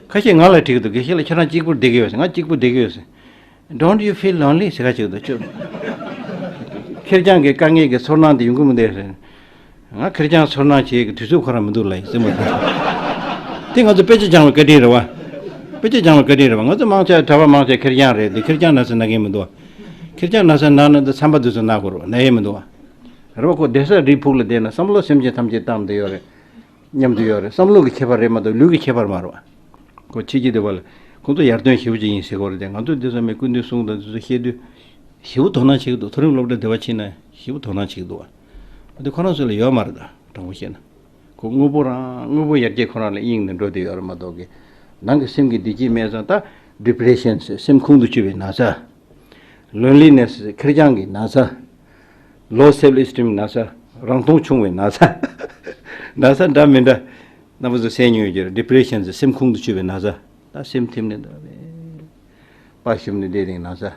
ཁ་ཤས་ང་ལ་དྲིས་འདུག་དགེ་བཤེས་ལགས་ཁྱེད་རང་གཅིག་པུར་བསྡད་ཀྱི་ཡོད་ཟེར་ང་གཅིག་པུར་བསྡད་ཀྱི་ཡོད་ཟེར། Don't you feel lonely ཟེར་ག་ཅིག་འདུག་ཁྱོད། ཁེར་རྐྱང་གི་དཀའ་ངལ་གྱི་ཚོར་སྣང་དེ་ཡོང་གི་མི་འདུག་ཟེར། ང་ཁེར་རྐྱང་ཚོར་སྣང་བྱེད་ཀྱི་དུས་ཚོད་ཁོ་རང་མི་འདུག་ལ་ཟེར་མ་ཐུབ། དེ་ང་ཚོ་དཔེ་ཆ་སྦྱང་བའི་བཀའ་དྲིན་རེད་བ། དཔེ་ཆ་སྦྱང་བའི་བཀའ་དྲིན་རེད་བ་ང་ཚོ་དམངས་ཆ་གྲྭ་བ་དམངས་ཆ་ཁེར་རྐྱང་རེད་དེ་ཁེར་རྐྱང་ན་སེ་ན་མཁན་མི་འདུག་བ། ཁེར་རྐྱང་ན་སེ་ན་ན་དེ་འཚམས་པ་དུས་སུ་ན་དགོས་རོགས་ན་ཡས་མི་འདུག་བ། རེད་བ་ཁོ་བསྡད་ས་རིའི་ཕུག་ལ་བསྡད་ན་བསམ་བློ་སེམས་ཅན་ཐམས་ཅད་བཏང་བསྡད་ཡོད་རེད། མཉམ་དུ་ཡོད་རེད་བསམ་བློ་གི་ཁྱད་པར་རེད་མ་གཏོགས་ལུས་ཀྱི་ཁྱད་པར་མ་རེད། ཁོ་ཕྱི་རྒྱལ་དུ་བ་ལ་ཁོང་ཚོ་ཡར་ཐོན་ཞེ་བོ་ཅིག་ཡིན་ཟེར་གོ་རེད་དེ་ང་ཚོ་འདི་ཚང་མས་སྐུ་མདུན་གསུང་དང་འདི་ཚོ་བཤད་དུས། ཞེ་བོ་དོ་སྣང་བྱེད་ཀྱི་འདུག་མཐོ་རིམ་སློབ་གྲྭ་དེ་བ་ཕྱིན་ན་ཞེ་བོ་དོ་སྣང་བྱེད་ཀྱི་འདུག་བ། འདི་ཁོ་རང་ཚོ་ལ་ཡོད་མ་རེད་ད་དྲང་པོ་བཤད་ན། ཁོ་དངོས་པོ་རང་དངོས་པོ་ཡར་རྒྱས་ཁོ་རང་ལ་གཡེང་ནས་འགྲོ་བསྡད་ཡོད་རེད་མ་གཏོགས། ནང་གི་སེམས་ཀྱི་བདེ་སྐྱིད་མེད་ཙང་ད། Depression། སེམས་ཁུང་དུ་ཆུད་པའི་ན་ཚ། ལོན་ལི་ནེ་སི་ཁེར་རྐྱང་གི་ན་ཚ། Low Self Esteem ན་ཚ། རང་མཐོང་ཆུང་བའི་ན་ཚ། ན་ཚ་འདྲ་མི་འདྲ་སྣ་བུག་ཏུ་སེམས་མྱོས་གྱུར Depressions སེམས་ཁུང་དུ་ཆུད་པའི་ན་ཚ། ད་སེམས་ཐིམ་ནས་འདོད་པ་ཞིམ་ནས་བསྡད་རིང་ན་ཚ།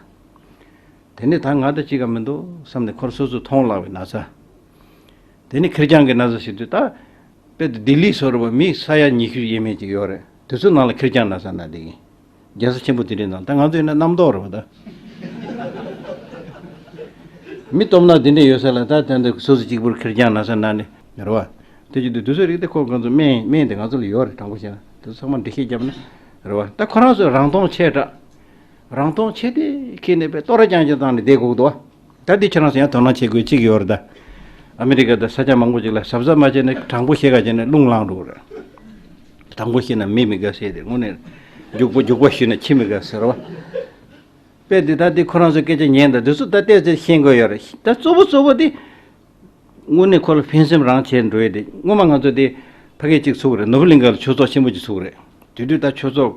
དེ་ནས་ད་ང་དང་གཅིག་ག་མི་འདུག་བསམ་ནས་ཁོར་སོ་སོར་མཐོང་ལགས་པའི་ན་ཚ། དེ་ནི་ཁེར་རྐྱང་གི་ན་ཚ་ཞིག་དུས་ད་དཔལ་དུ་ལྡི་ལི་སོགས་རུ་བ་མི་ས་ཡ་ཉི་ཤུ་ཡས་མས་ཅིག་ཡོད་རེད་དེ་ཚོའི་ནང་ལ་ཁེར་རྐྱང་ན་ཚ་ན་འདི་ཡིན། རྒྱལ་ས་ཆེན་པོ་དེ་རིང་དང་ད་ང་ཚོ་ཡིན་ན་རྣམ་རྟོག་རེད་བ་ད། མི་སྟོབས་ནག་དེ་འདྲས་ཡོད་ས་ལ་ད་དེ་འདྲས་སོ་སོ་གཅིག་པུར་ཁེར་རྐྱང་ན་ས་ན་ནི། རེད་བ། དེ་བརྒྱུད་དུ་དུས་ཚོད་རིག་སྟེ་ཁོ་གང་ཚོ་སྨན་སྨན་དེ་ང་ཚོ་ལ་ཡོད་རེད་དྲང་པོ་བཤད་ན་དེ་ཚོ་ཚང་མ་འདྲི་ཤེས་རྒྱབ་ན། རེད་བ། ད་ཁོ་རང་ཚོས་རང་སྟོང་ཆེ་དྲགས། རང་སྟོང་ཆེ་དེ་ཁེས་ནས་པས་ལྟོ་ར་རྐྱང་རྐྱང་བཏང་ནས་བསྡད་གོག་འདུག་བ། ད་འདི་ཁྱེད་རང་ཚོ་ཡང་དོ་སྣང་བྱེད་དགོས་གཅིག་ཡོད་རེད་ད། ཨ་མི་རི་ཀ་དང་ས་ཆ་མང་པོ་ཅིག་ལ་ཟབ་ཟབ་མ་བྱས་ནས་དྲང་པོ་བཤད་ག་བྱས་ནས་རླུང་ལངས་འགྲོ་རེད། དྲང་པོ་བཤད་ན་མི་མི་དགའ་ཟེར་ཏེ་དངོས་གནས་རྒྱུགས་པོ་རྒྱུགས་པ་ཞུས་ན་ཁྱི་མི་དགའ་ཟེར་བ། དཔེ་འདི་ད་འདི་ཁོ་རང་ཚོའི་སྐད་ཆ་ཉན་དང་འདི་ཚོ་ད་བལྟས་ཚེ་ཤེས་དགོས་ཡོད་རེད་ད་གཙོ་བོ་གཙོ་བོ་དེ། དངོས་གནས་ཁོ་ལ་ཕན་སེམས་རང་བྱས་འགྲོ་ཡི་རེད་སྔོན་མ་ང་ཚོ་དེ་ཕ་སྐད་ཅིག་ཚུགས་རེད་ནོར་བུ་གླིང་ག་ལ་ཆོས་ཚོགས་ཆེན་པོ་ཅིག་ཚུགས་རེད་དེ་དུས་ད་ཆོས་ཚོགས་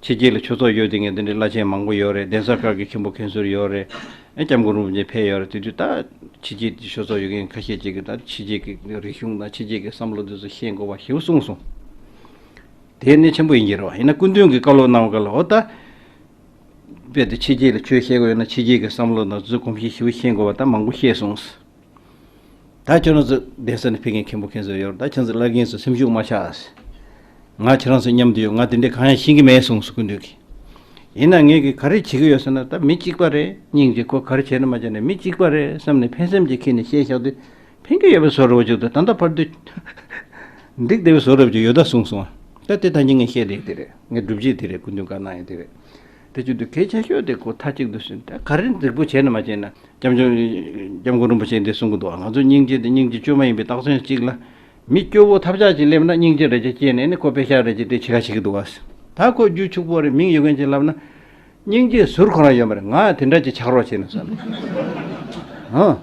ཕྱི་རྒྱལ་ལ་ཆོས་ཚོགས་ཡོད་དེ་ངས་དེ་འདྲའི་བླ་ཆེན་མང་པོ་ཡོད་རེད་གདན་ས་བཀའ་བརྒྱད་མཁན་པོ་མཁན་ཟུར་ཡོད་རེད་ཨ་སྐྱབས་མགོན་རིན་པོ་ཆེ་ཕེབས་ཡོད་རེད་དེ་དུས་ད་ཕྱི་རྒྱལ་གྱི་ཆོས་ཚོགས་ཡོད་མཁན་ཁ་ཤས་ཅིག་གིས་ད་ཕྱི་རྒྱལ་གྱི་རིག་གཞུང་དང་ཕྱི་རྒྱལ་གྱི་བསམ་བློ་དེ་ཚོ་ཤེས་དགོས་པ་ཞེ་བོ་གསུངས་སོང་དེ་གནད་ཆེན་པོ་ཡིན་གྱི་རེད་ཨ་ཡིན་ན་སྐུ་མདུན་གྱི་བཀའ་སློབ་གནང་བ་ཀ་ལ་ཨོ་ད། རྦད་དེ་ཕྱི་རྒྱལ་ལ་ཆོས་བཤད་དགོས་ཡོད་ན་ཕྱི་རྒྱལ་གྱི་བསམ་བློ་དང་བཟོད་སྒོམ་བཞིན་ཞུ་ཤེས་དགོས་པ་ད་མང་པོ་ཤེས་སོང། ད་ཁྱེད་རང་ཚོ་གདན་ས་ནས་ཕེབས་མཁན་མཁན་པོ་མཁན་ཚོ་ཡོད་རེད་ད་ཁྱེད་ཚོ་བླ་རྒན་ཚོ་སེམས་ཤུགས་མ་ཆགས། ང་ཁྱེད་རང་ཚོ་མཉམ་དུ་ཡོད་ང་དེ་འདྲའི་གང་ཡང་ཤེས་ཀྱི་མེད་གསུངས་སོ་སྐུ་མདུན་གྱིས། ཡིན་ན་ངེད་ཀྱིས་ག་རེ་བྱེད་ཀྱི་ཡོད་ཟེར་ན་ད་མི་གཅིག་པ་རེད་སྙིང་རྗེ་ཁོ་ག་རེ་བྱས་ནི་མ་བྱས་ནི་མི་གཅིག་པ་རེད་བསམ་ནས་ཕན་སེམས་ཀྱིས་ཁེལ་ནས་བཤད་བཞག་དུས་ཕན་རྒྱུ་ཡོད་པའི་བཟོ་རུ་བཅུག་སྟེ་ད་ལྟ་བར་དུ། འགྲིག་བདེ་བའི་བཟོ་རུ་བཅུག་ཡོད་ད་གསུངས་སོང། ད་དེ་ཐང་ཅན་ངས་བཤད་ལེ་དེ་རེད་ངས་སྒྲུབ་བྱེད་དེ་རེད་སྐུ་མདུན་བཀའ་གནང་ཡོད་དེ་རེད། དེ་བཅུག་སྟེ་གལ་ཆེ་ཤོས་དེ་ཁོ་ཐག་གཅིག་འདུག་ཟེར། ད་ག་རེ་འགྲིག་པོ་བྱས་ནས་མ་བྱས་ན། སྐྱབས་མགོན། སྐྱབས་མགོན་རིན་པོ་ཆེས་འདི་གསུང་གི་འདུག་ང་ཚོ་སྙིང་རྗེ་དེ་སྙིང་རྗེ་བཅོས་མ་ཡིན་པའི་རྟགས་མཚོན་གཅིག་ལ། མི་སྐྱོ་བོ་ཐབས་ཆག་ཅིག་སླེབས་ན་སྙིང་རྗེ་རེད་ཅེས་སྐྱེས་ནས་ནི་ཁོ་དཔེ་ཤག་རེད་ཅེས་དེ་ཕྱི་ཁ་བྱེད་ཀྱི་འདུག་བ། ད་ཁོ་རྒྱུད་ཕྱུག་པོ་རེད་མིང་ཡོད་མཁན་ཅིག་ལབ་ན། སྙིང་རྗེའི་ཟུར་གང་རང་ཡོད་མ་རེད་ང་དེ་འདྲ་ཅིག་ཆགས་རོགས་བྱས་ནས་བསམ་ཡོད།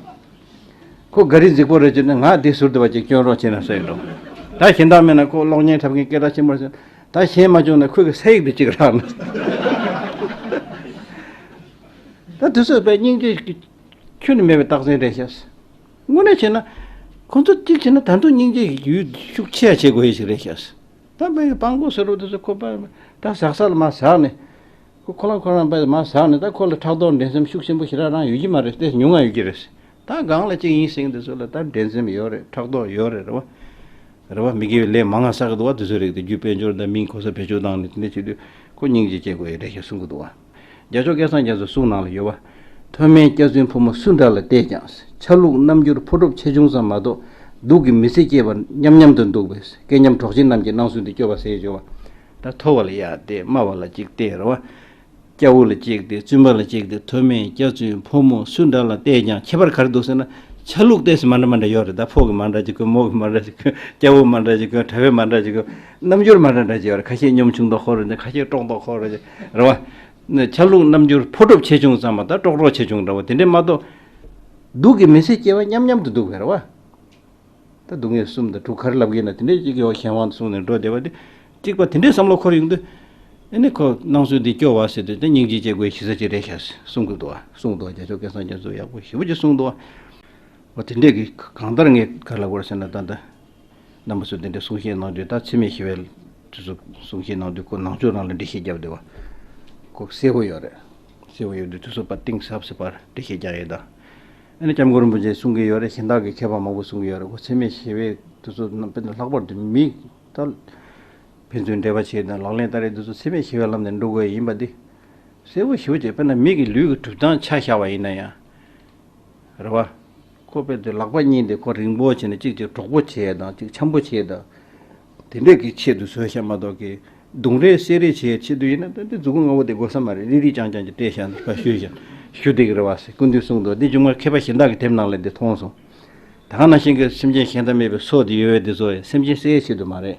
ཁོ་འགའ་རེ་རྫིག་པོ་རེད་ཅེ་ན་ང་དེའི་ཟུར་དེ་བ་ཅིག་སྐྱོན་རོགས་བྱས་ནས་བསམ་ཡོད། ད་གཞན་དག་མེད་ན་ཁོ་གློག་བརྙན་འཁྲབ་མཁན་སྐད་གྲགས་ཆེན་པོ་རེད། ད་གཞན་མ་བྱུང་ན་ཁོས་གི་ས་ཡིག་དེ་ཅིག་རག་ན། ད་དེ་ཚོས་པའི་སྙིང་རྗེ་ཁྱོད་ནི་མེད་པའི་རྟགས་མཚན་རེད་ཤག། དངོས་གནས་བྱས་ན་ཁོ་ཚོ་གཅིག་བྱས་ན་ད་དུང་སྙིང་རྗེ་ཡུལ་ཤུགས་ཆེ་ཡ་བྱེད་དགོས་ཡས་ཤིག་རེད་ཤག། ད་མི་ཡི་པང་གོ་ཟེར་རོ་དེ་ཚོ་ཁོ་པ་ད་ཟག་ས་ལ་མ་ཟག་ནས། ཁོ་ཁོ་རང་ཁོ་རང་པ་མ་ཟག་ནས་ད་ཁོ་ལ་ཕྲག་དོག་འགྲན་སེམས་ཤུགས་ཆེན་པོ་ཞིག་རང་རང་ཡོད་ཀྱི་མ་རེད་དེ་ཉུང་ང་ཡོད་ཀྱི་རེད། ད་སྒང་ལ་ཅིག་ཡིན་སེང་དེ་ཚོ་ལ་ད་འགྲན་སེམས་ཡོད་རེད་ཕྲག་དོག་ཡོད་རེད་རེད་བ། རེད་བ་མི་དགེ་བའི་ལས་མང་ང་ཟག་གི་འདུག་བ་དེ་ཚོའི་རིགས་དེ་བརྒྱུད་དཔལ་འབྱོར་ད་མིང་གོ་ས་བེད་སྤྱོད་བཏང་ནས་དེ་འད་བྱེད་དུས་ཁོ་སྙིང་རྗེ་སྐྱེ་དགོས་ཡོད་རེད་ཞེས་གསུང་གི་འདུག་བ། རྒྱ་ཕྱོགས་སྐལ་བཟང་རྒྱ་མཚོའི་གསུང་ནང་ལ་ཡོད། མཐོ་དམན་སྐྱག་རྫུན་ཕོ་མོ་སུ་འདྲ་ལ་བལྟས་ཀྱང་ཆ་ལུགས་རྣམ་འགྱུར་ཕོ་གྲུབ་ཆེ་ཆུང་ཙམ་མ་གཏོགས་སྡུག་གི་མི་ཚེ་སྐྱེལ་བར་མཉམ་མཉམ་དུ་འདུག་པས་སྐལ་མཉམ་གྲོགས་བྱེད་རྣམས་ཀྱིས་སྣང་ཟུན་དུ་སྐྱོ་བ་ཟས་འཇོ་བ། མཐོ་བ་ལ་གཡག་སྟེ་དམའ་བ་ལ་འཇིག་རྟེན་ར་བ། སྐྱ་བོ་ལ་གཅིག་སྟེ་བཙུན་པ་ལ་གཅིག་སྟེ་མཐོ་དམན་སྐྱག་རྫུན་ཕོ་མོ་སུ་འདྲ་ལ་བལྟས་ཀྱང་ཁྱད་པར་གར་འདུག་ཟེར་ན་ཆ་ལུགས་ལྟས་སུ་མ་འདྲ་མ་འདྲ་ཡོད་རེད་ད་ཕོ་གི་མ་འདྲ་ཅིག་གོ་མོ་གི་མ་འདྲ་ཅིག་གོ་སྐྱ་བོ་མ་འདྲ་ཅིག་གོ་གྲྭ་བས་མ་འདྲ་ཅིག་གོ། རྣམ་འགྱུར་མ་འདྲ་འདྲ་ཅིག་ཡོད་རེད་ཁ་ཤས་གཉོམ་ཆུང་དོག་ཧོར་རེད་ཁ་ཤས་ཀྲོང་དོག་ཧོར་རེད། རེད་བ། ཆ་ལུགས་རྣམ་འགྱུར་ཕོ་གྲོབ་ཆེ་ཆུང་ཙམ་མ་གཏོགས་ཀྲོག་ཀྲོག་ཆེ་ཆུང་འདྲ་བོ་དེ་འདྲས་མ་གཏོགས། སྡུག་གི་མི་ཚེ་སྐྱེལ་བ་མཉམ་མཉམ་དུ་འདུག་བས་རེད་བ། ད་སྡུག་བསྔལ་གསུམ་དང་དྲུག་གར་ལབ་གིན་ན་དེ་འདྲས་གཅིག་གི་འོག་གཞན་དབང་དུ་སོང་ནས་འགྲོ་བདེ་བ་དེ་གཅིག་པ་དེ་འདྲས་བསམ་བློ་འཁོར་ཡོང་དུས། ཨེ་ནི་ཁོ་སྣང་ཚུལ་འདི་སྐྱོ་བ་ཟེར་དུས་དེ་སྙིང་རྗེ་སྐྱེ་དགོས་ཞི་ས་ཅིག་རེད་ཤག་ཞེས་གསུང་གི་འདུག་བ། གསུང་འདུག་བ་རྒྱ་ཕྱོགས་སྐད་སངས་རྒྱས་མཛོད་ཡག་པོ་ཞེ་པོ་ཅིག་གསུང་འདུག་བ། བ་དེ་འདྲས་གིས་གང་ལྟར་ངས་གར་ལབ་དགོས་རེད་ཟེར་ན་ད་ད། རྣམ་པ་ཚོས་འདི་འདྲའི་གསུང་བཤད་གནང་དུས་ད་འཚེ་མེད་ཞི་བའི་དུས་སུ་གསུང་བཤད་གནང་དུས་ཁོ་ནང་ཆོས་རང་ལ་འགྲེལ་བཤད་རྒྱབ་བསྡད་པ་ཁོ་གསལ་བོ་ཡོད་རེད། གསལ་བོ་ཡོད་དུས་དུས་སུ་པར་གཏིང་ཟབ་ཟེར་པར་འགྲེལ་བཤད་རྒྱག་ཡོད་ད། ཨ་ནི་སྐྱབས་མགོན་རིན་པོ་ཆེས་གསུང་གི་ཡོད་རེད་གཞན་དག་གིས་མཁས་པ་མང་པོས་གསུང་གི་ཡོད་རེད་ཁོ་འཚེ་མེད་ཞི་བའི་དུས་སུ་རྣམ་པས་ལྷག་པར་དུ་མི་ད་ཕན་ཚུན་འབྲེལ་བ་བྱས་དང་ལག་ལེན་བསྟར་རེས་དུས་སུ་འཚེ་མེད་ཞི་བའི་ལམ་ནས་འགྲོ་དགོས་ཡིན་པ་འདི་གསལ་བོ་ཞི་བོ་བྱས་དཔེར་ན་མིག་གི་ལུས་ཀྱི་གྲུབ་སྟངས་ཆ་བཞག་པ་ཡིན་ན་ཡང་རེད་བ། ཁོ་པས་དེ་ལག་པ་གཉིས་དེ་ཁོ་རིང་པོ་བྱས་ནས་གཅིག་གཅིག་གྲོགས་པོ་བྱས་དང་གཅིག་འཆམ་པོ་བྱས་དང། དེ་འདྲས་ཀྱི་ཆེད་དུ་བཟོས་བཤད་མ་གཏོགས་ཀྱི། རྡུང་རེས་བསད་རེས་བྱས་ཆེད་དུ་ཡིན་ན་དེ་རྫུ་གུ་ང་བོ་དེ་དགོས་ས་མ་རེད་རིག་རིག་ཅང་ཅང་གྱི་སྤྲད་བཞག་འདི་ཕ་ཤུལ་བཞག་ཞུ་སྡིག་རེད་བ་ཟེར་སྐུ་མདུན་གསུང་འདུག་འདི་ཅུང་མ་མཁས་པ་གཞན་དག་གི་དེབ་ནང་ལས་འདི་མཐོང་སོང། དག་ན་ཤིང་གི་སེམས་ཅན་ཞེ་འདང་མེད་པའི་སྲོག་འདི་ཡོད་བས་འདི་བཟོ་ཡ་སེམས་ཅན་བསད་ཡ་ཆེད་དུ་མ་རེད།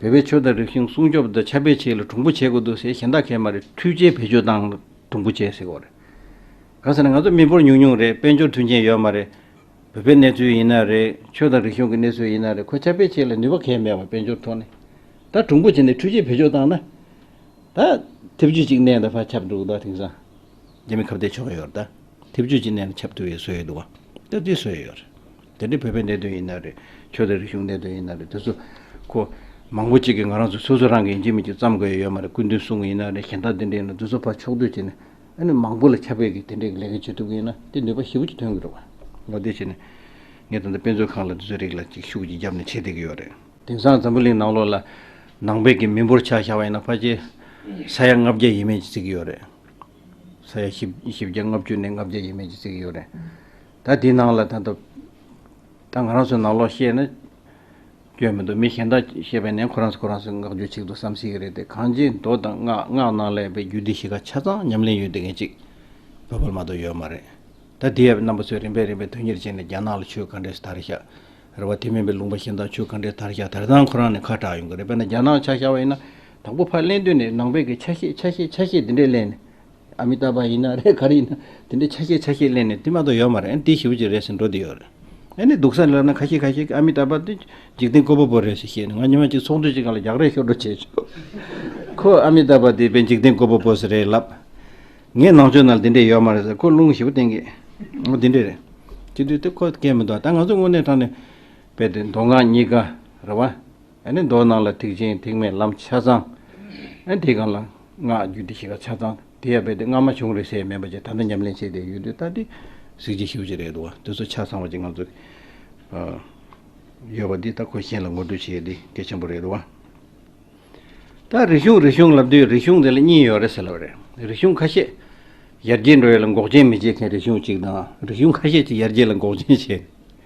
བོད་པའི་ཆོས་དང་རིག་གཞུང་སྲུང་སྐྱོབ་དང་ཆབ་དཔལ་ཆེད་ལ་གྲུང་པོ་བྱེད་དགོས་འདུག་ཟེར་གཞན་དག་མཁས་མ་རེད་འཕྲུལ་ཆས་བེད་སྤྱོད་དང་གྲུང་པོ་བྱེད་ཟེར་གོ་རེད། གང་ཟེར་ན་ང་ཚོ་མི་འབོར་ཉུང་ཉུང་རེད་དཔལ་འབྱོར་མཐུན་རྐྱེན་ཡོད་མ་རེད། བོད་པའི་གནས་ཚུལ་ཡིན་ན་རེད་ཆོས་དང་རིག་གཞུང་གི་གནས་ཚུལ་ཡིན་ན་རེད་ཁོ་ཆབ་དཔལ་ཆེད་ལ་ནུས་པ་གས་མེད་པ་དཔལ་འབྱོར་ཐོག་ནས་ད་གྲུང་པོ་བྱེད་ནས་འཕྲུལ་ཆས་བེད་སྤྱོད་བཏང་ན། ད་ཐེབས་ཇུས་གཅིག་གནས་ད་ཕར་ཁྱབ་འགྲོ་གི་འདུག་དེང་སང་རྒྱ་མི་ཁ་བརྡའི་ཆོ་ག་ཡོད་རེད་ད། ཐེབས་ཇུས་གཅིག་གནས་ན་ཁྱབ་ཐུབ་ཡོད་བཟོ་ཡོད་འདུག་བ། ད་དེ་བཟོ་ཡོད་རེད། དེ་འདྲའི་བོད་པའི་གནད་དོན་ཡིན་ན་རེད། ཆོས་དང་རིག་གཞུང་གནད་དོན་ཡིན་ན་རེད་དེ་ཚོ། ཁོ། མང་པོ་ཅིག་གིས་ང་རང་ཚོ་སོ་སོ་རང་གིས་ཡིན་གྱི་མིན་གྱི་བརྩམས་དགོས་ཡས་ཡོད་མ་རེད་སྐུ་མདུན་གསུང་གི་ཡིན་ན་རེད་གཞན་དག་དེ་འདྲའི་ཡིན་ན་དེ་ཚོ་ཕར་ཕྱོགས་བསྡུས་བྱས་ནས། ཨ་ནི་མང་པོ་ལ་ཁྱབ་སྤེལ་གྱིས་དེ་འདྲའི་ལས་ཀ་བྱེད་ཐུབ་གི་ཡིན་ན་དེ་ནུས་པ་ཞིབ་པོ་ཅིག་ཐོན་གྱི་འདུག་ངོ་བསྟོད་བྱས་ནས། ངས་ད་ལྟ་དཔེ་མཛོད་ཁང་ལ་དེ་ཚོའི་རིགས་ལ་ཅིག་ཤུགས་ཀྱིས་བརྒྱབ་ནས་བྱེད་བསྡད་ཀྱི་ཡོད་རེད། དེང་སང་འཛམ་བུ་གླིང་ནང་ལོགས་ལ། ནང་བོད་ཀྱི་མི་འབོར་ཆགས་བཞག་པ་ཡིན་ན་ཕ་ཆེ། ས་ཡ་ལྔ་བརྒྱ་ཡས་མས་ཀྱིས་བརྩི་གི་ཡོད་རེད། ས་ཡ་བཞི་བརྒྱ་ལྔ་བཅུ་ནས་ལྔ་བརྒྱ་ཡས་མས་ཀྱིས་བརྩི་གི་ཡོད་རེད། ད་དེའི་ནང་ལ་ད་ད་ད་ང་རང་ཚོའི་ནང་ལོག་བཤད་ན། སྐྱོན་མི་འདུག་མི་གཞན་དག་བཤད་པའི་ནང་ཁོ་རང་ཚོ་ཁོ་རང་ཚོའི་བསྔགས་བརྗོད་ཅིག་ཏུ་བསམ་སྲིད་ཀྱི་རེད་དེ་གང་ཅིའི་མདོ་དང་སྔགས་སྔགས་ནང་ལས་པའི་རྒྱུད་སྡེ་བཞི་ཀ་ཆ་ཚང་ཉམས་ལེན་ཡོད་དེ་ངེས་ཅིག་བོད་པར་མ་གཏོགས་ཡོད་མ་རེད། ད་དེ་ཡབ་རྣམ་པ་ཚོས་རིམ་པས་རིམ་པས་དོན་གཉེར་བྱས་ནས་རྒྱ་ནག་ལ་ཆོས་གང་འདྲས་སུ་དར་ཤག་རེད་བ་དེ་མིན་པའི་ལུང་པ་གཞན་དག་ཆོས་གང་འདྲས་དར་ཤག་དར་སྟངས་ཁོ་རང་ནས་ཁ་གྲགས་ཡོང་གི་རེད་དཔེར་ན་རྒྱ་ནག་ཆ་ཤ་བ་ཡིན་ན་དང་པོ་ཕར་གླེང་དོན་ནས་ནང་པའི་གི་ཆ་ཤས་ཆ་ཤས་ཆ་ཤས་དེ་འདྲས་གླེང་ནས། ཨ་མི་ཏཱ་བ་ཡིན་ན་རེད་ག་རེ་ཡིན་ན་དེ་འདྲའི་ཆ་ཤས་ཆ་ཤས་གླེང་ནས་དེ་མ་ཏོག་ཡོད་མ་རེད་འདི་ཞིབ་ཅིག་རེད་ཟེར་འགྲོ་དེ་ཡོད་རེད། ཨེ་ནས་སྡུག་ས་ལ་ལབ་ན་ཁ་ཤས་ཁ་ཤས་ཀྱིས་ཨ་མི་ཏཱ་བ་འདི་འཇིག་རྟེན་བཀོད་པ་པོ་རེད་ཟེར་བཤད་ནས་ང་ཉི་མ་གཅིག་ཚོགས་འདུ་ཞིག་ག་ལ་རྒྱག་རེས་ཤོར་འགྲོ་བྱས་བྱུང། ཁོ་ཨ་མི་ཏཱ་བ་འདི་དཔེ་འཇིག་རྟེན་བཀོད་པ་པོ་ཟེར་རེད་ལབ། ངས་ནང་ཆོས་ནང་དེ་འདྲས་ཡོད་མ་རེད་ཟེར་ཁོ་རླུང་ཞིབ་བསྟན་གི། འོ་དེ་འདྲས་རེད། སྤྱི་འཐུས་དེ་ཁོ་སྐད་མི་འདུག་ད་ང་ཚོ་དངོས་གནས་དྲང་ནས་བལྟས་མདོ་སྔགས་གཉིས་ཀ་རེད་བ། མདོག་སྣང་ལ་ཐིག་ཆེན་ཐིག་མེད་ལམ་ཆ་ཚང། དེའི་གང་ལ་སྔགས་རྒྱུད་སྡེ་ཞི་ཁ་ཆ་ཚང་དེ་ཡང་སྦས་ཏེ་སྔ་མ་བྱུང་རེ་ཟད་མེད་པ་བཅས་ད་ལྟ་ཉམས་ལེན་བྱས་ཏེ་ཡུན་དུ་བསྟར་ཏེ་གཟིགས་ཀྱི་ཞུ་ཅི་རེད་འདུག་དེ་ཚོ་ཆ་ཚང་བ་ཅིག་ང་ཚོ་ཡོད་པ་འདི་ད་ཁོ་གཞན་ལ་ངོ་སྤྲོད་བྱེད་དེ་གལ་ཆེན་པོ་རེད་འདུག་ད་རིག་གཞུང་རིག་གཞུང་ལབ་དུས་རིག་གཞུང་དེ་ལ་གཉིས་ཡོད་རེད་ཟེར་ལབ་རེད་རིག་གཞུང་ཁ་ཤས་ཡར་རྒྱས་འགྲོ་ཡོད་ལ་འགོག་རྐྱེན་མི་བྱེད་མཁན་རིག་གཞུང་གཅིག་དང་རིག་གཞུང་ཁ་ཤས་ཀྱིས་ཡར་རྒྱས་ལ་འགོག་རྐྱེན་བྱེད།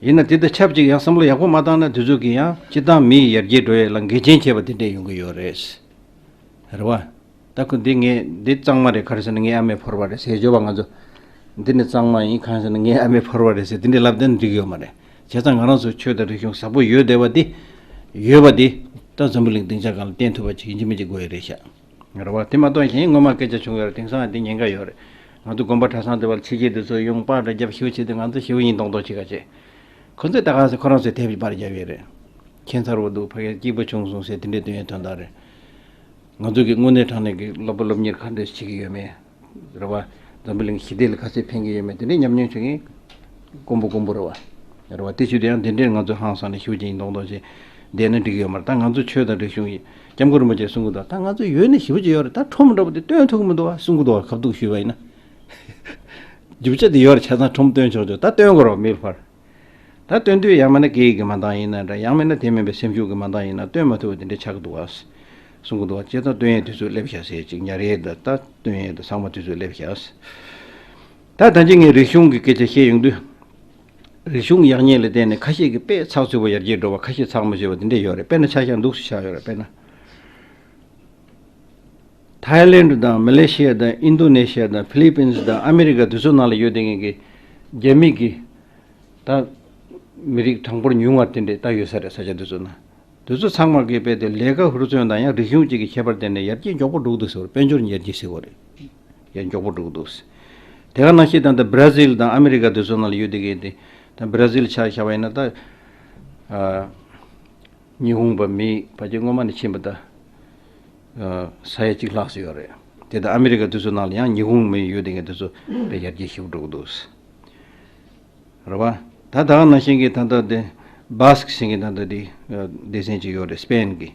ཡིན་ན་དེ་དང་ཆབས་ཅིག་ཡང་བསམ་བློ་ཡག་པོ་མ་བཏང་ན་དུས་ཚོད་ཀྱིས་ཡང་སྤྱི་བཏང་མི་ཡི་ཡར་རྒྱས་འགྲོ་ཡས་ལ་འགལ་རྐྱེན་བྱས་པ་དེ་འདྲས་ཡོང་གི་ཡོད་རེད། རེད་བ། ད་ཁུ་འདི་ངས་འདི་གཙང་མ་རེད་ག་རེ་ཟེར་ན་ངའི་ཨ་མས་ཕོར་བ་རེད་ཟེར་བརྗོད་པ་ང་ཚོ། འདི་ནི་གཙང་མ་ཡིན་གང་ཟེར་ན་ངའི་ཨ་མས་ཕོར་བ་རེད་ཟེར་དེ་འདྲས་ལབ་བསྡད་ན་འགྲིག་གི་ཡོད་མ་རེད། བྱས་ཙང་ང་རང་ཚོའི་ཆོས་དང་རིག་གཞུང་བཟང་པོ་ཡོད་བསྡད་པ་དེ། ཡོད་པ་དེ། ད་འཛམ་བུ་གླིང་སྡིངས་ཆ་གང་ལ་བསྟན་ཐུབ་པ་ཅིག་ཡིན་གྱི་མིན་གྱི་དགོས་ཡས་རེད་ཤག། ངར་བ་དེ་མ་གཏོགས་གཞན་སྔོན་མ་སྐད་ཆ་བྱུང་ཡོད་རེད་དེང་སང་དེ་ཉེན་ཁ་ཡོད་རེད། ང་ཚོ་དགོན་པ་གྲྭ་ཚང་དེ་བར་ཚིག་གཅིག་དེ་ཚོས་ཡོང་དཔག་འདྲ་རྒྱབ་ཞིབ་བྱས་ཏེ་ང་ཚོ་ཞེ་བོ་ཡིན་མདོག་མདོག་བྱེད་ག་བྱེད། ཁོ་ཚོས་ད་ག་ཟེ་ཁོ་རང་ཚོས་དེབ་ཀྱི་པར་རྒྱབ་ཡོད་རེད། ཁྱེད་མཚར་བོ་འདུག་ཕ་རྒན་སྐྱིད་པོ་བྱུང་སོང་ཟེར་དེ་འདྲའི་དོན་ཡོད་དོན་དག་རེད། ང་ཚོ་གི་དངོས་གནས་དྲང་གནས་ཀྱི་སློབ་བུ་སློབ་གཉེར་ག་འདྲ་ཞིག་བྱེད་ཀྱི་ཡོད་མེད། རེད་བ། འཛམ་བུ་གླིང་ཞི་བདེ་ལ་ཁ་ཟས་ཕན་གྱི་ཡོད་མེད་དེ་འདྲའི་ཉམས་མྱོང་བྱུང་ཡིན། ཀོང་པོ་ཀོང་པོ་རེད་བ། རེད་བ། དེ་ཕྱིར་དུ་ཡང་འདི་འདྲའི་ང་ཚོས་ཧང་སངས་ནས་ཞུ་བྱེད་ཡིན་མདོག་མདོག་བྱེད་བསྡད་ན་འགྲིག་གི་ཡོད་མ་རེད་ད་ང་ཚོ་ཆོས་དང་རིག་གཞུང་ཡིན་སྐྱབས་མགོན་རིན་པོ་ཆེས་གསུང་གི་འདུག་ད་ང་ཚོ་ཡོད་ནི་ཞི་བ་ཅིག་ཡོད་རེད་ད་ཁྲོམ་འདྲ་པོ་དེ་སྟོན་ཐུབ་གི་མི་འདུག་བ་གསུང་གི་འདུག་བ་གབ་གཏུག་ཞུས་བ་ཡིན་ན། རྒྱུ་ཆ་དེ་ཡོད་རེད་བྱས་ཙང་ཁྲོམ་སྟོན་ཆོག་ཆོག་ད་སྟོན་དགོས་རེད་བ་མིལ་བར། ད་སྟོན་དུས་ཡང་མེད་ན་གེགས་ཀྱི་མ་འདང་ཡིན་ན་འདྲ་ཡང་མེད་ན་དེ་མིན་པའི་སེམས་ཤུགས་ཀྱི་མ་འདང་ཡིན་ན་སྟོན་མ་ཐུབ་བ་དེ་འདྲའི་ཆགས་འདུག་ཨཱ། གསུང་གི་འདུག་ཨ་ཅེ་ད་སྟོན་ཡས་དུས་ཚོད་སླེབས་བཞག་ཟེར་ཅིག་ཉར་ཡས་འདི་ད་སྟོན་ཡས་འདི་ཟངས་མ་དུས་ཚོད་སླེབས་བཞག་ཟེར། ད་ད་ཅི་ངས་རིག་གཞུང་གི་སྐད་ཆ་བཤད་ཡོང་དུས། རིག་གཞུང་ཡག་ཉེས་ལ་བལྟས་ནས་ཁ་ཤས་ཀྱིས་དཔེ་ཚགས་ཚུད་པོ་ཡར་རྒྱས་འགྲོ་བ་ཁ་ཤས་ཚགས་མ་ཆུད་པ་དེ་འདྲས་ཡོད་རེད་དཔེར་ན་ཆ་ཤ་འདུག་སུ་ཆགས་ཡོད་རེད་དཔེར་ན། ཐའི་ལེན་དུ་དང་མི་ལེ་ཤི་ཡ་དང་ཨིན་རྡུ་ནེ་ཤི་ཡ་དང་ཕི་ལི་པིན་སི་དང་ཨ་མི་རི་ཀ་དེ་ཚོ་ནང་ལ་ཡོད་དེ་ངེད་ཀྱི་རྒྱ་མིག་གིས་ད་མི་རིགས་གྲངས་འབོར་ཉུང་བ་དེ་འདྲས་ད་ཡོད་ས་རེད་ས་ཆ་དེ་ཚོ་ན་དེ་ཚོ་ཚང་མར་གི་དཔེ་དེ་ལས་ཀ་ཧུར་བརྩོན་དང་ཡང་རིག་གཞུང་བཅས་ཀྱི་ཁྱད་པར་དེ་འདྲས་ཡར་རྒྱས་མགྱོགས་པོ་འགྲོ་གི་འདུག་ཟེར་བར་དཔལ་འབྱོར་ཉེར་རྒྱས་ཟེར་བ་རེད་ཡར་མགྱོགས་པོ་འགྲོ་གི་འདུག་ཟེར། དེ་ག་ནང་ཤེས་དང་ད་བྷར་ཛིལ་དང་ཨ་མི་རི་ཀ་དེ་ཚོ་ནང་ལ་ཡོད་དེ་གི་དེ་ད་བྷར་ཛིལ་ཆགས་ཤ་བ་ཡིན་ན་ད་ཉི་ཧུང་བ་མི་བ་ཅས་སྔོན་མ་ནས་ཕྱིན་པ་ད། ས་ཡ་གཅིག་ལྷག་སོན་ཡོད་རེད། དེ་ལྟར་ཨ་མི་རི་ཀ་དུས་ཚོད་ནང་ལ་ཡང་ཉི་ཧོང་མི་ཡོད་དེ་ངས་དུས་ཚོད་དཔེ་ཡར་རྒྱས་ཞིག་བསྒྲུབ་ཀྱི་འདུག་རེད་བ། ད་ད་ནང་བཞིན་གྱི་ད་ལྟ་དེ Basque ཞེས་ཀྱི་ད་ལྟ་དེ་སྡེ་ཚན་གཅིག་ཡོད་རེད Spain གི་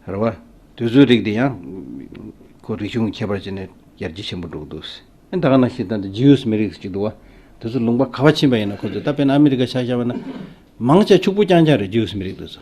རེད་བ། དུས་ཚོད་རིགས་དེ་ཡང་ཁོ་རིག་གཞུང་གི་ཁྱད་པར་བྱས་ནས་ཡར་རྒྱས་ཆེན་པོ་འགྲོ་གི་འདུག་ད་ག་ནང་བཞིན་ད་ལྟ Jews མི་རིགས་གཅིག་འདུག་བ། དུས་ཚོད་ལུང་པ་ག་བ་ཕྱིན་པ་ཡིན་ན་ཁོ་ཚོས་ད་དཔེར་ན་ཨ་མི་རི་ཀ་ཆ་བཞག་པ་ན། མང་ཆེ་ཕྱུག་པོ་རྐྱང་རྐྱང་རེད Jews མི་རིགས་དེ་ཚོ།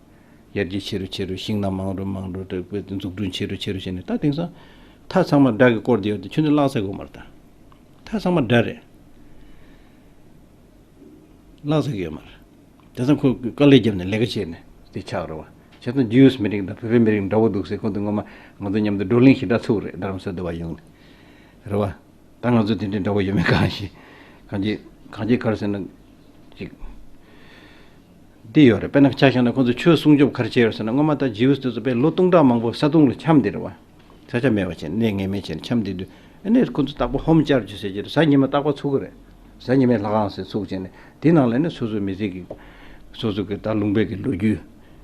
ཡར་རྒྱས་ཆེ་རུ་ཆེ་རུ་ཞིང་རྣམས་མང་རུ་མང་རུ་འཛུགས་སྐྲུན་ཆེ་རུ་ཆེ་རུ་བྱས་ནས་ད་དེང་སང་མཐའ་ཚང་མ་སྦྲག་གི་སྐོར་དེ་ཡོད་དེ་ཁྱོད་ཚོས་བཀླགས་ཚར་དགོས་མ་རེད་དམ། མཐའ་ཚང་མ་སྦྲག་རེད། བཀླགས་ཚར་གི་ཡོད་མ་རེད། དེང་སང་ཁོས་དཀའ་ལས་བརྒྱབ་ནས་ལས་ཀ་བྱས་ནས་དེ་ཆགས་རེད་བ། བྱས་ཙང་རྗེའུ་ཡོས་མི་རིགས་དང་བོད་པའི་མི་རིགས་འདྲ་བོ་འདུག་ཟེར་ཁོང་དེ་ངོ་མ་ང་ཚོ་མཉམ་དུ་བགྲོ་གླེང་ཞི་དྲག་ཚུགས་རེད་རྡ་རམ་སོའི་འདུ་བ་ཡོང་ནས། རེད་བ། ད་ང་ཚོ་དེ་འདྲའི་འདྲ་བོ་ཡོད་མེད་གང་ཤེས། གང་ཅི་གང་ཅི་གར་ཟེར་ན་ཅིག། འདི་ཡོད་རེད་དཔེར་ན་ཆ་བཞག་ན་ཁོང་ཚོས་ཆོས་སྲུང་སྐྱོབ་གར་བྱེད་རོགས་ཟེར་ན་སྔོན་མ་ལྟར་རྗེའུས་ལྟོས་ཚོ་པས་ལོ་སྟོང་ཕྲག་མང་པོ་ས་དུང་ལ་འཁྱམས་བསྡད་རེད་བ། ས་ཆ་མེད་བ་བྱས་ནས་གནས་ངེས་མེད་བྱས་ནས་འཁྱམས་བསྡད་དུས་ཨེ་ནས་ཁོང་ཚོས་རྟག་པ་ཧོམ་ཅར་ཅུ་ཟེར་གྱི་རེད་གཟའ་ཉི་མ་རྟག་པ་ཚུགས་ཀྱི་རེད། གཟའ་ཉི་མའི་ལྷ་ཁང་ཟེར་ཚུགས་བྱས་ནས་དེའི་ནང་ལ་ཨེ་ནས་སོ་སོའི་མི་ཚེ་གི། སོ་སོ་གི་ད་ལུང་པའི་གི་ལོ་རྒྱུས།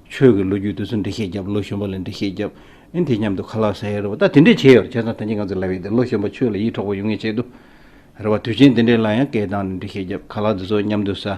ཆོས་གི་ལོ་རྒྱུས་དེ་ཚོ་འབྲི་ཤེས་རྒྱབ་ལོ་གཞོན་པ་ལས་འབྲི་ཤེས་རྒྱབ་ཨེ་དེ་མཉམ་དུ་ཁ་ལག་ཟ་ཡི་རེད་བ་ད་དེ་འདྲས་བྱས་ཡོད་རེད་བྱས་ཙང་ད་ཉིད་ང་ཚོ་ལབ་ཡི་དེ་ལོ་གཞོན་པ་ཆོས་ལ་ཡིད་འཕྲོག་པ་ཡོང་ངེས་བྱས་དུས། རེད་བ་དུས་ཆེན་དེ་འདྲས་ལ་ཡང་སྐད་བཏང་ནས་འབྲི་ཤེས་རྒྱབ་ཁ་ལག་འདི་ཚོ་མཉམ་དུ་ཟ།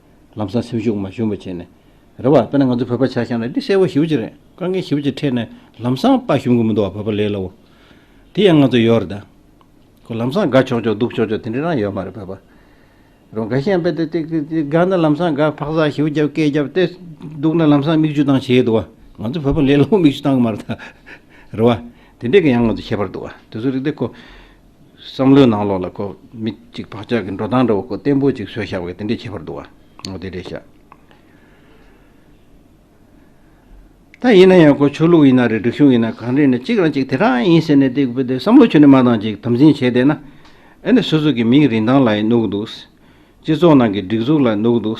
ལམ་སང་སེམས་ཤུགས་མ་ཞུམ་པ་བྱས་ནས་རེད་བ། དཔེར་ན་ང་ཚོ་བོད་པ་ཆ་ཞང་ལ་འདི་གསལ་བོ་ཞིབ་ཅིག་རེད་དཀའ་ངལ་ཞིབ་ཅིག་འཕྲད་ནས་ལམ་སང་དཔའ་ཞུམ་གི་མི་འདུག་བ་བོད་པ་ལས་སླ་བོ། དེ་ཡང་ང་ཚོ་ཡོད་རེད་ད། ལམ་སང་དགའ་ཆོག་ཆོག་སྡུག་ཆོག་ཆོག་དེ་འདྲ་རང་ཡོད་མ་རེད་བོད་པ། རང་དགའ་ཞེན་པའི་དེ་དགའ་ན་ལམ་སང་དགའ་འཕག་འཚག་ཞིབ་རྒྱབ་སྐད་རྒྱབ་ཏེ་འདུག་ན་ལམ་སང་མིག་ཆུ་བཏང་བྱས་འདུག་བ། ང་ཚོ་བོད་པ་ལས་སླ་བོ་མིག་ཆུ་བཏང་གི་མ་རེད་ད། རེད་བ། དེ་འདྲས་ཀྱི་ཡང་ང་ཚོ་ཁྱད་པར་འདུག་བ། དེ་ཚོ་རིག་བདེ་ཁོ། བསམ་བློའི་ནང་ལོགས་ལ་ཁོ་མི་གཅིག་བག་ཆགས་ཀྱི་འགྲོ་སྟངས་འདྲ་བོ་ཁོ་བརྟན་པོ་གཅིག་བཟོས་བཞག་པས་དེ་འདྲའི་ཁྱད་པར་འདུག་ཨང། འོ་དེ་འདྲའི་ཤ་སྟག་ཡིན་ན་ཡང་ཁོ་ཆོས་ལུགས་ཡིན་ན་རེད་སྒྲིག་གཞུང་ཡིན་ན་གང་རེད་ནས་གཅིག་རང་གཅིག་དེ་རང་ཡིན་ཟེར་ནས་དེ་བསམ་བློ་ཆུ་ནས་མ་ཏང་ཅིག་དམ་འཛིན་བྱས་བསྡད་ན་ཨེ་ནས་སོ་སོ་གི་མིང་རིན་ཐང་ལ་ཡང་གནོད་གི་འདུག་སྤྱི་ཚོགས་ནང་གི་སྒྲིག་འཛུགས་ལ་གནོད་གི་འདུག